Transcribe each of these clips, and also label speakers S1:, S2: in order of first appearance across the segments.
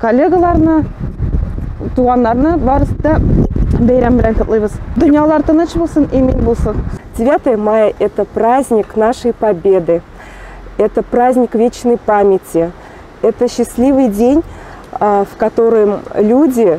S1: коллегаларны, туганнарны барысы да бәйрәм белән котлыйбыз. Дөньялар тыныч булсын, имин булсын. 9 мая –
S2: это праздник нашей победы. Это праздник вечной памяти. Это счастливый день, в котором люди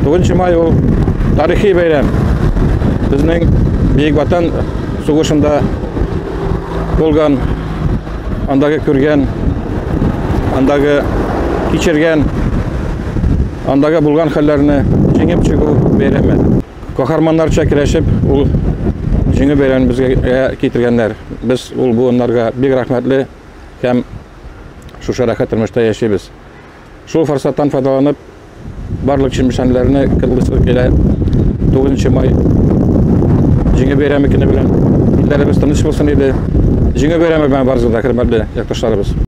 S2: Бүгенче май ул
S3: тарихи бәйрәм. Безнең Бөек Ватан сугышында булган, андагы күргән, андагы кичергән, андагы булган хәлләрне җиңеп чыгу бәйрәме. Каһарманнарча керәшеп, ул җиңү бәйрәмен безгә китергәннәр. Без ул буыннарга бик рәхмәтле һәм шушы рәхәт тормышта яшибез. Шул форсаттан файдаланып, барлык чемпионларны кытлыслык килә. 9 май җиңе бәйрәме көне белән илләребез тыныч булсын иде. Җиңе бәйрәме белән барыгызны да хөрмәтле якташларыбыз.